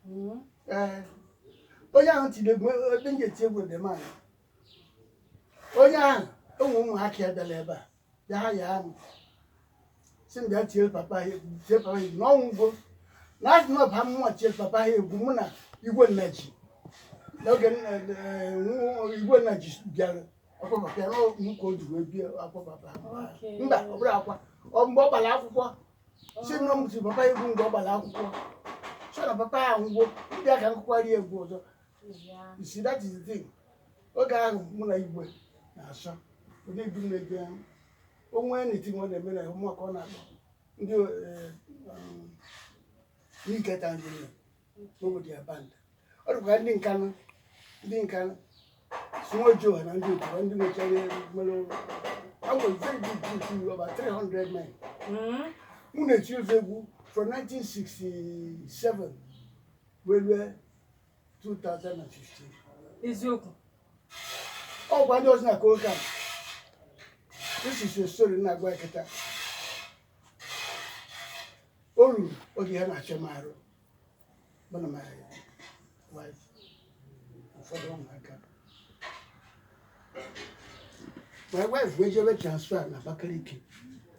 Mm-hmm. Eh, onye ahụ tiri egwu ebe m ga-eti egwu dị mma onye ahụ ụmụ ụmụaka ya bịara ebe a bịa hire m sị m bịa tie papa ha egwu tie papa ha egwu na ọ nwụgo na adị na ọba mmụọ tie papa ha egwu mụ na igwe nnaji n'oge nna eh, nwa- igwe nnaji bịara ọkwa papa ya na ọ- mụ ka o ji wee bịa akwa papa ha. Okay. mba ọ bụrọ akwa ọ mgbe ọ gbara akwụkwọ sị na ọ m tiri papa egwu mgbe ọ gbara akwụkwọ so na papa ya nwụọ bịa ka m kụkwarị egwu ọzọ isi that is the thing oge ahụ mụ na igwe na-asọ onye ibu m na-eje o nwee anything ọ na-eme na ụmụaka ọ na-akpọ ndị eh, um, n'iketa njiri n'obodo ya band ọ dịkwa ndị nkanụ ndị nkanụ sumo joe na ndị otu ndị nwechara mmanụ awọ very big group you about 300 men Mm. mụ na-eti ofu egwu from 1967 wee rue 2015 eziokwu ọ gwa ndị ọzọ na kokan this is a story na-agwa ya kịta o ruru oge ya na-achọ m arụ mụ na my wife ụfọdụ ụmụaka my wife wee jebe transfer na Abakaliki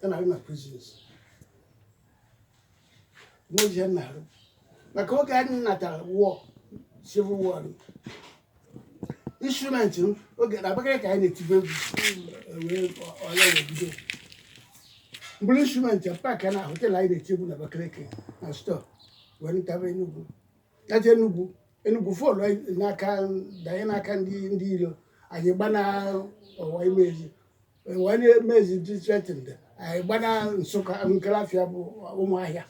ya na-arụ na prisons n'ozi ya na-arụ maka oge anyị natara war civil war instrument m oge na abakaliki anyị na-etibe egwu wee war wee bido m buru instrument ya pack na họtel anyị na-eti egwu na abakaliki na store wee nataba enugwu naje enugwu enugwu fall n'aka danye n'aka ndị ndị iro anyị gbana ọwa imezi ọwa imezi dị threatened anyị gbana nsụka nkelafịa bụ ụmụahịa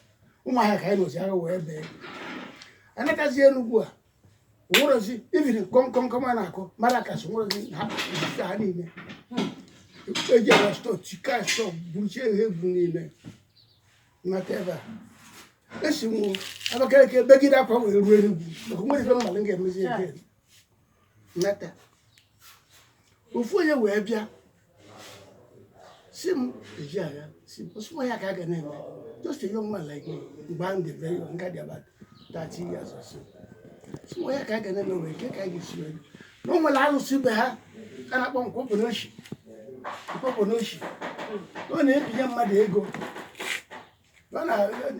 ụmụahịa ka anyị nọzi agha wee bie a natazi enugwu a nwerozi even kọmkọmkọm a na-akụ maracas nwerozi ha isi ha niile eji ala store tikaa store buruchie ha egwu niile m nata ebe a esi m abakaliki begide akwa wee ruo enugwu maka nwerọ ife m malụ m ga-emezi ebe m nata ofu onye wee bịa sị m eji agha sị m sụwa ya ka a ga na-eme just a young man like me mgbe ahụ dị very young m ka dị about 30 years or so sụwa ya ka a ga na-eme wee nke ka a ga-esi wee na o nwere alụsị be ha a na-akpọ nkwọpụ n'oshi nkwọpụ n'oshi ọ na-ebinye mmadụ ego ọ na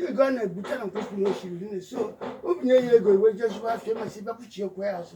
ego a na-ebute na nkwọpụ n'oshi riri nne so o binye ya ego iwe jezuba afọ emesịa ị bịa kwụchie kwụọ ya azụ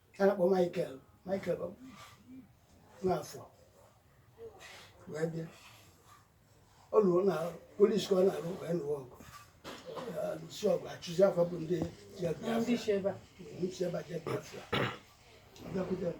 a na-akpọ Michael Michael Nwafọ wee bịa ọ lụrụ na polis ka ọ na-alụ wee nụọ ọgụ si ọgụ achụzi fa bụ ndị je Biafra ndị si ebe a je Biafra ọ bịakwute m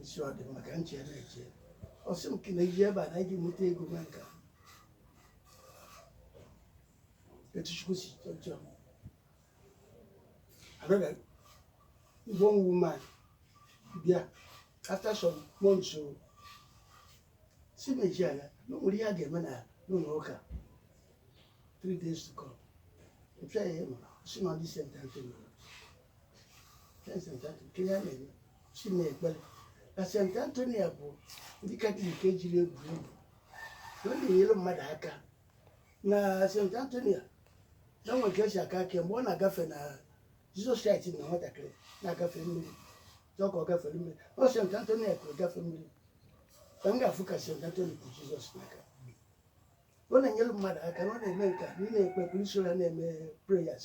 isi ọ dị mma ka m chee na-eche ọ sị m ka ị na-eje ebe a na ị ga-enweta ego maka etu chukwu si chọọ another one woman bịa after some months o si meji ala na o nwere ihe a ga-eme na n'ụlọ ụka three days to come mpịa ya ịnọ si na ọ dị St. Anthony na St. Anthony bụ ndị Katọlik ejirọ egwuri egwu na ọ na-enyere mmadụ aka na St. Anthony na nwe ka e si akọ akọ mgbe ọ na-agafe na Jizọs Kraịst na nwatakịrị na-agafe mmiri chọọ ka ọ gafere mmiri ọ St. Anthony ka ọ gafe mmiri ka m ga-afụ ka St. Anthony bu Jizọs n'aka ọ na-enyere mmadụ aka na ọ na-eme nke a na ị na-ekpe ekpere i soro ya na-eme prayers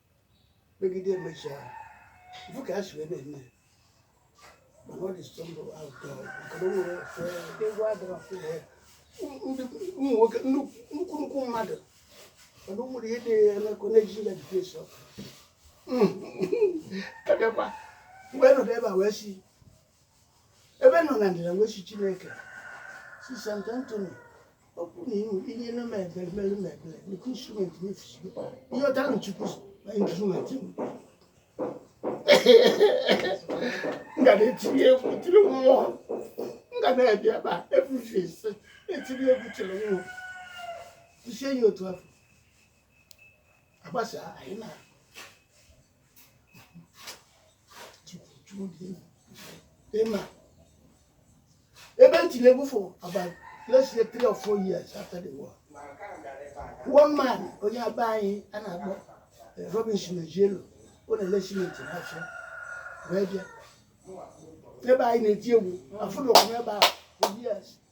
megide emecha ị fụ ka ha si wee na-eme ya. mana ọ dị sọ m ụtọ maka na o nwere ife egwu adịrọ ee, ndị ụmụ nwoke nnukwu nnukwu nnukwu mmadụ mana o nwere ihe na-eme ka ọ na-eji ya difesi ọkụ abịakwa mgbe nọdụ ebe a wee si ebe nọ na ndịda wee sị chineke sị St. Anthony okwu na ihu ihe na-eme ebere mere m ebere nke instrument na feast gị ị yọtara m chukwu na instrument m ga na-etinye egwu tiri mmụọ m ga na-abịa ebe a every feast na-etinye egwu tiri mmụọ isi enyi otu afọ agbasa anyị na Ị ma, ebe m tiri egwu for about let's say three or four years after the war. One man, onye be anyị a na-akpọ eh, Robinson Ejielo, ọ na-ele simenti n'afọ wee bịa. Ebe anyị na-eti egwu afụ na ọkụ ebe ahụ for years.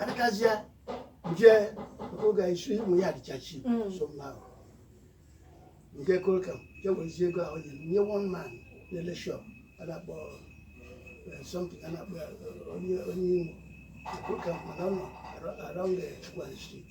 adịkazịa jee oge anyị so ụmụ ya na chọọchị Mm. so mma ahụ nke Coal Camp je werezie ego ahụ nyere nye one man na-ele shop a na-akpọ eh, something a na-akpọ ya, eh, onye onye imo Coal Camp mana ọ nọ around the Chukwuani street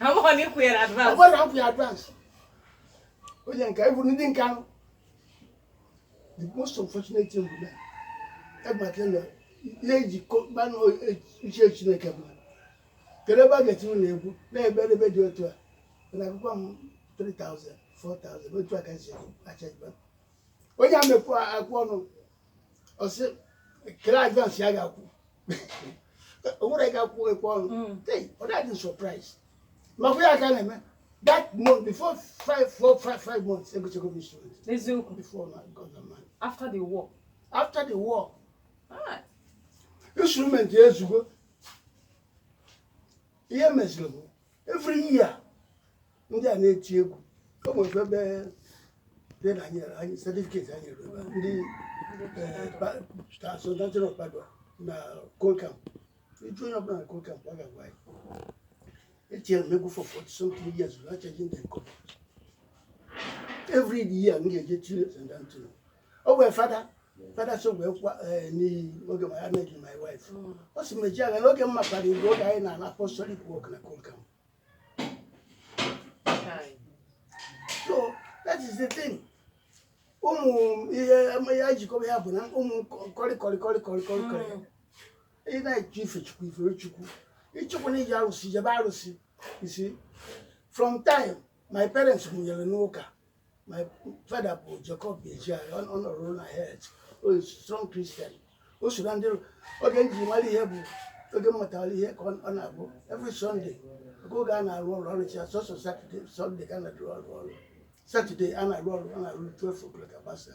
Amaghị na ịkwụ ya na advance. Amaghị na akwụ ya advance. Onye nke anyị bụrụ ndị nke ahụ. The most unfortunate thing bụ na egbata na ihe eji kọkpanụ uche Chineke bụ kedu ebe a ga-eti ụlọ egwu na ebe ebe dị otu a na akwụ m 3000 4000 otu a ka si achajiba onye a mekwa akwụ ọnụ ọ sị kele advance ya ga-akwụ o nwere ị ga-akwụ ekwe ọnụ Mm. Hey, ọ dịghị surprise makwa ya ka a na-eme that month before five four five five months egochago m instrument eziokwu before na god na man after the war after the war Ah, instrument ya ezugo ihe meziri bụ every year ndị a na-eti egwu o nwere ebe dị na anyị anyị certificate ha nyere ebe a, ndị eh, ba- ta- Saint Anthony of Padua na Coal Camp ị jụọ onye ọbụla na Coal Camp ọ ga-agwa gị etiere m egwu for 40 something years without charging them kobo every year m ga-eje tiere Saint Anthony o wee fada fada so wee kwa eh, n'iyi oge ma ya na-eji my wife ọ sị m Ejeagha n'oge m makwara gị oge anyị na-arụ apostolic work na Coal Camp so that is the thing ụmụ ihe ya jikọba ya bụ na ụmụ kọrịkọrị ị na-achọ ife chukwu i fere chukwu ị chọkwanụ ije arụsị jebe arụsị you see from time my parents mụnyere n'ụka My father bụ Jacob Ejeagha, ọ ọ na-arụ na Health, ọ bụ strong Christian. O so na ndị oge m ji mara ihe bụ oge m matara ihe ka ọ ọ na-abụ every Sunday oge oge a na-arụ ọrụ ọrụ chi sọsọ Saturday Sunday ka a na-arụ ọrụ ọrụ Saturday a na-arụ ọrụ a na-arụ 12 o'clock agbasa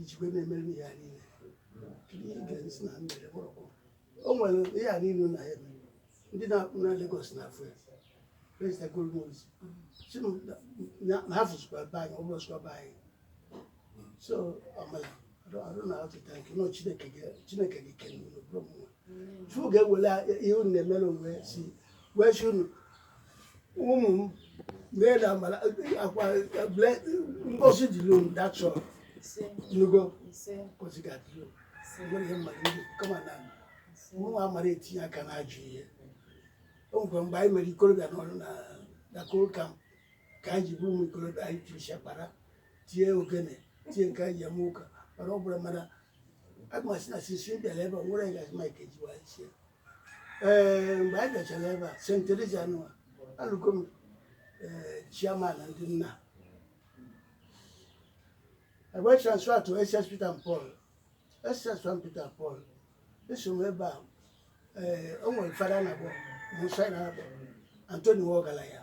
ijikwe na-emere ya niile ihe ị ga-esi na mere mgbọrọgwụ o nwere ihe a niile na ya eme ndị na-akpụ na Lagos na afọ ya prezida golmozi si m na- na- na ha fụzikwa be anyị ọ bụrụ sịkwa be anyị so amala I don't know how to thank unu chineke ga- chineke ga-ekele unu ọ bụrọ mụnwa chukwu ga-ewere ihe unu na-emere onwe si wee sị unu ụmụ m mee na mala akwa ble ngozi dịrị unu that's all ị nụgo ngozi ga-adịrị unu nwere ihe mmadụ ndị kama na mụnwa amarọ etinye aka na ajọ ihe o nwekwa mgbe anyị mere ikorobịa nọrọ na na Coal Camp ka anyị ji bụrụ ụmụ ikorobịa anyị tiri shakpara tie ogene tie nke anyị ji eme ụka mana ọ bụla mana a ga-asị na since m bịara ebe a nwere onye ga-asị Mike Ejeagha sie ee mgbe anyị bịachara ebe a St. Teresa nụwa alụgo m ee chairman ndị nna e wee transfer to SS Peter and Paul SS St. Peter and Paul eso m ebe a ee o nwere fada na-akpọ Monsignor Anthony Nwogalanya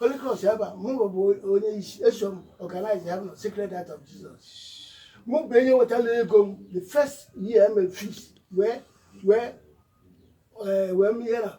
Holy Cross ebe a mụ bụ onye isi eso m organize ya bụ Sacred Heart of Jesus mụ bụ onye wetara ego mee the first year mee feast wee wee eh, wee mee ihe na